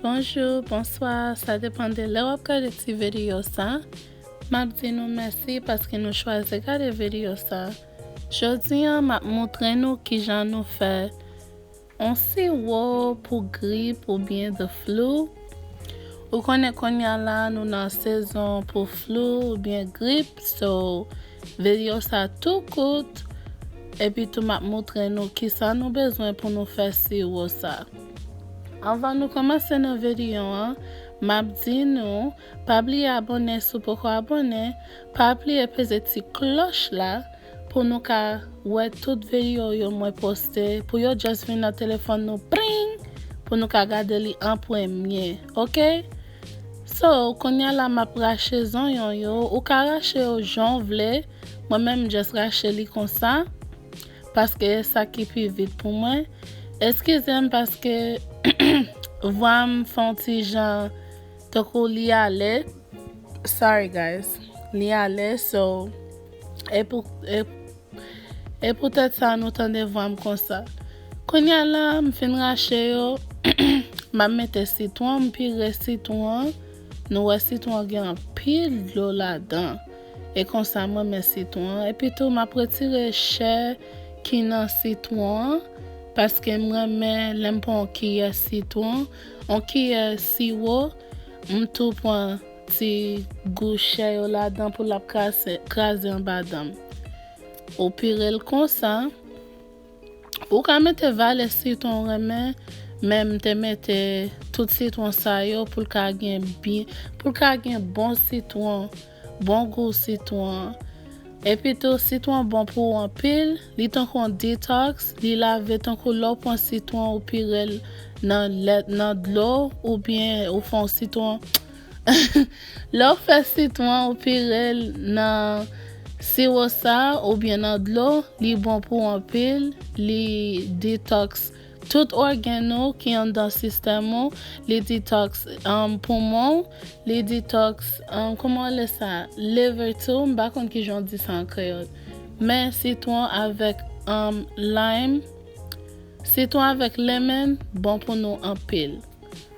Bonjour, bonsoir, sa depan de lè wap gade ti video sa Map di nou mèsi paske nou chwaze gade video sa Jodi an map montre nou kijan nou fè On siwo pou grip oubyen the flu Ou konnen konnya la nou nan sezon pou flu oubyen grip so video sa tou kout epi tou map moutre nou kisa nou bezwen pou nou fè siwo sa Anvan nou komanse nan video an map di nou pa bliye abone si w poko abone pa bliye peze ti kloch la pou nou ka wè tout veio yo mwen poste pou yo just vin nan telefòn nou pring pou nou ka gade li an premye ok so kounya la map rache zonyon yo ou ka rache yo janw vle mwen menm m just rache li konsa paske e sa ki pi vit pou mwen eskizem paske vwam fon ti jan tankou li ale sorry guys li ale so. E poutèt sa nou tande vwa m konsa. Kounye a la, m fin rache yo, m ap mete sitwon, m pire sitwon an, nou wè sitwon an gen anpil dlo ladan, e konsa m renmen sitwon an, epi tou m ap retire chè ki nan sitwon an, paske m renmen lè m pran yon kiyè sitwon, yon kiyè siwo, m tou pran. Ti gouchè yo ladan pou lap kraze anba danm. Ou pirel konsa. Ou ka mete valè sitwon ou renmen men m te mete tout sitwon sa yo pou l ka gen bon sitwon bon gou sitwon an. Epitou sitwon bon pou ou anpil, li tankou yon detox, li lave tankou lè w pran sitwon ou pire l nan lèt nan dlo oubyen ou fè yon sitwon lè w fè sitwon ou pire l nan siwo sa oubyen nan dlo li bon pou ou anpil li detox Tout ògèn ou ki anndan sistèm ou li detox um poumon ou li detox um kouman w le sa liver tou m pa konn kijan w di sa an kreyòl men sitwon avèk um lime sitwon avèk lemon bon pou nou anpil.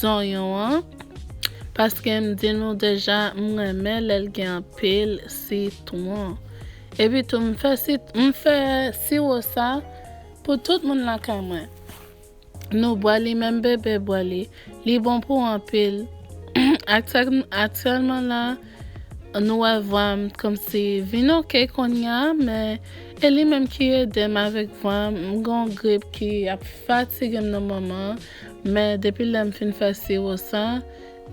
Zonyon an paske m di nou deja m renmen lè l gen anpil sitwon epi tou m fè m fè siwo sa pou tout moun lakay mwen nou bwè li menm bebe bwè li li bon pou anpil aktyèlman la nou wè vwa m t kòmsi vin ok konnya men e li menm ki ede m avèk vwa m m gen yon grip ki ap fatige m nan moman an. Men depi lè m fin fè siwo sa,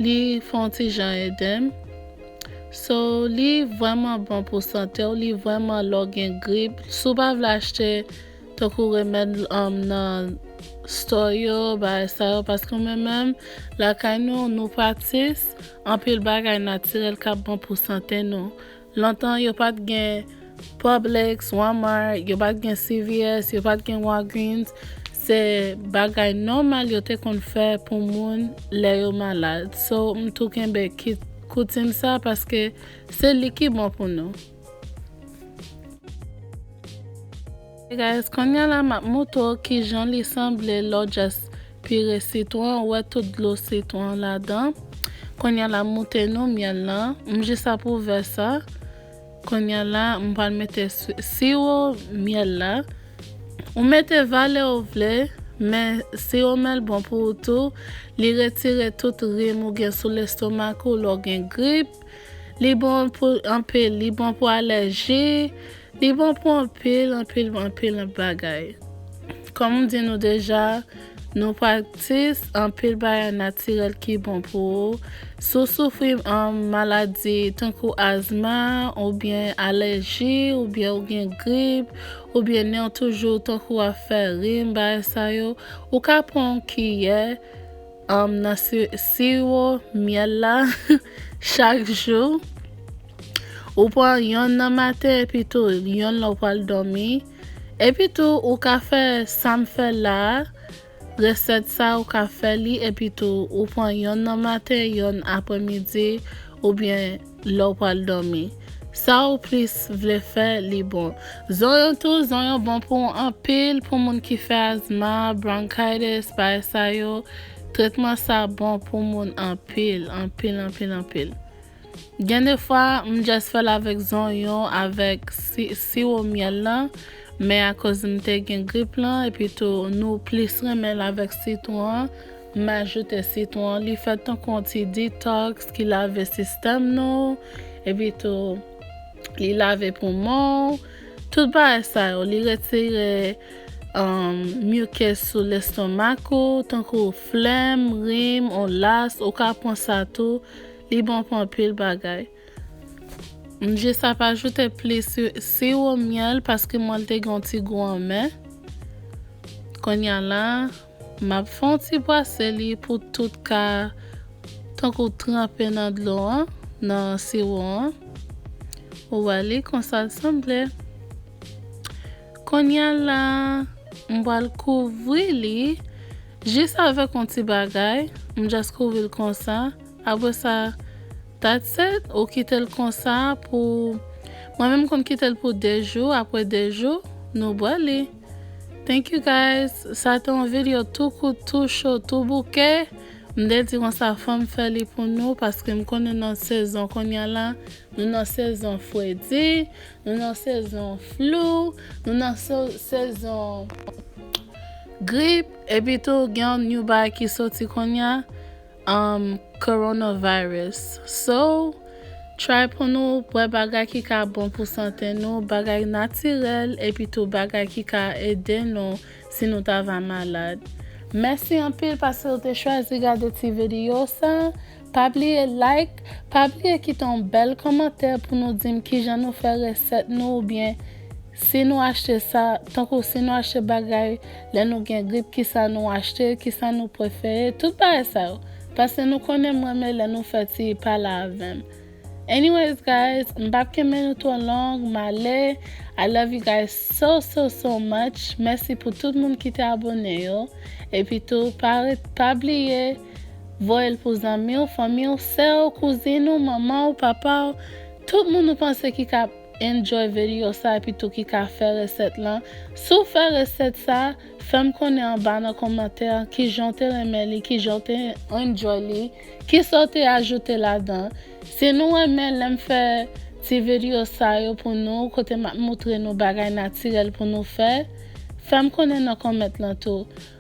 li fè on ti jan ede m. So, li vrèman bon pou sante w, li vrèman lè w gen grip, si w pa vle achte tankou remèd nan store yo, bagay sa yo, paske mwen menm lakay nou, nou pratis anpil bagay natirèl k ap bon pou sante nou. Lontan yo pat gen Publix, Walmart, yo pat gen CVS, yo pat gen Walgreens, se bagay nòmal yo te konn fè pou moun lè yo malad so m tou kenbe koutim sa paske se li ki bon pou nou. Hey guys konnya la map moutre w kijan li sanble lè w just pire sitwon ou wè tout dlo sitwon an ladan konnya la moute nou myèl lan m jis ap ouvè sa konnya la m pral mete siwo myèl la ou mete valè ou vle men siwo myèl bon pou ou tou li retire tout rim ou gen sou lestomak ou lè w gen grip Li bon pou anpil, li bon pou alèji, li bon pou anpil, anpil, anpil, anpil bagay. Kòm m di nou deja, nou praktis anpil bagay natirèl ki bon pou ou. Si w soufri um, maladi tankou azma, oubyen alèji, oubyen ou gen grip, oubyen nen w toujou tankou ap fè rim, bagay sa yo, ou ka pran yon kiyè, Anm nan siro myèl la chak jou. Ou pran yon nan maten epi tou yon lò pral dòmi. Epi tou ou ka fè sam fè la, resèt sa ou ka fè li epi tou ou pran yon nan maten, yon aprè midi oubyen lè w pral dòmi. Sa ou plis vle fè li bon. Zonyon tou, zonyon bon pou anpil pou moun ki fè azma, bronchitis, bagay sa yo, tretman sa bon pou moun anpil, anpil, anpil, anpil. Gen de fwa m just fè l avèk zonyon avèk siwo myèl lan, men akoz m te gen grip lan epi tou nou plis renmen l avèk sitwon an, M ajoute sitwon, li fèt tankou yon ti detox ki lave sistèm nou, epi tou li lave poumon w, tout bagay sa yo, li retire mucus sou lestomak ou, tankou flèm, rim, ou las, ou ka pran sa tou, li bon pou anpil bagay. M jis ap ajoute plis siwo myèl paske mwen te gen yon ti gou anmè, kounya la. Map fon ti bwase li pou tout ka tankou tranpe nan dlo an nan siwo an ou wè li konsal sanble konnya la mpwal kouvri li jis avèk yon ti bagay mjust kouvril konsa apresa that's it ou kitel konsa pou mwen menm konn kitel pou 2 jou aprè 2 jou nou bwè li. Thank you guys sa te yon video tou kout tou cho tou bouke m te di konsa fom fè li pou nou paske m konnen nan sezon konnya la nou nan sezon fredi nou nan sezon flou nou nan sezon grip epitou gen yon new bagy ki soti konnya um coronavirus so try pou nou bwè bagay ki ka bon pou sante nou bagay natirèl epi tou bagay ki ka ede nou si nou ta va malad mèsi anpil paskew te chwazi gade ti video sa pa bliye like pa bliye kite yon bèl kòmantè pou nou dim kijan nou fè resèt nou oubyen Si nou achte sa, tankou si nou achte bagay, lè nou gen grip kisa nou achte, kisa nou prefere, tout bagay sa yo. Pase nou konnen m renmen lè nou fè ti pale avèm. Anyways guys, m pap kenbe nou two long, m ale, I love you guys so so so much, mèsi pou tout moun ki te abone yo, epi tou pa ret pa bliye voyel pou zanmiw, fanmiw, sèw, kouzin ou, manmanw, papaw, tout moun ou panse ki ka Enjoy vedio sa epi tou ki ka fè resèt lan si w fè resèt sa fèm konnen anba nan komantè kijan w te renmen li kijan w te enjoy li kisa w te ajoute ladan si nou renmen lèm fè ti vedio sa yo pou nou kote map moutre nou bagay natirèl pou nou fè fèm konnen nan comment lan tou.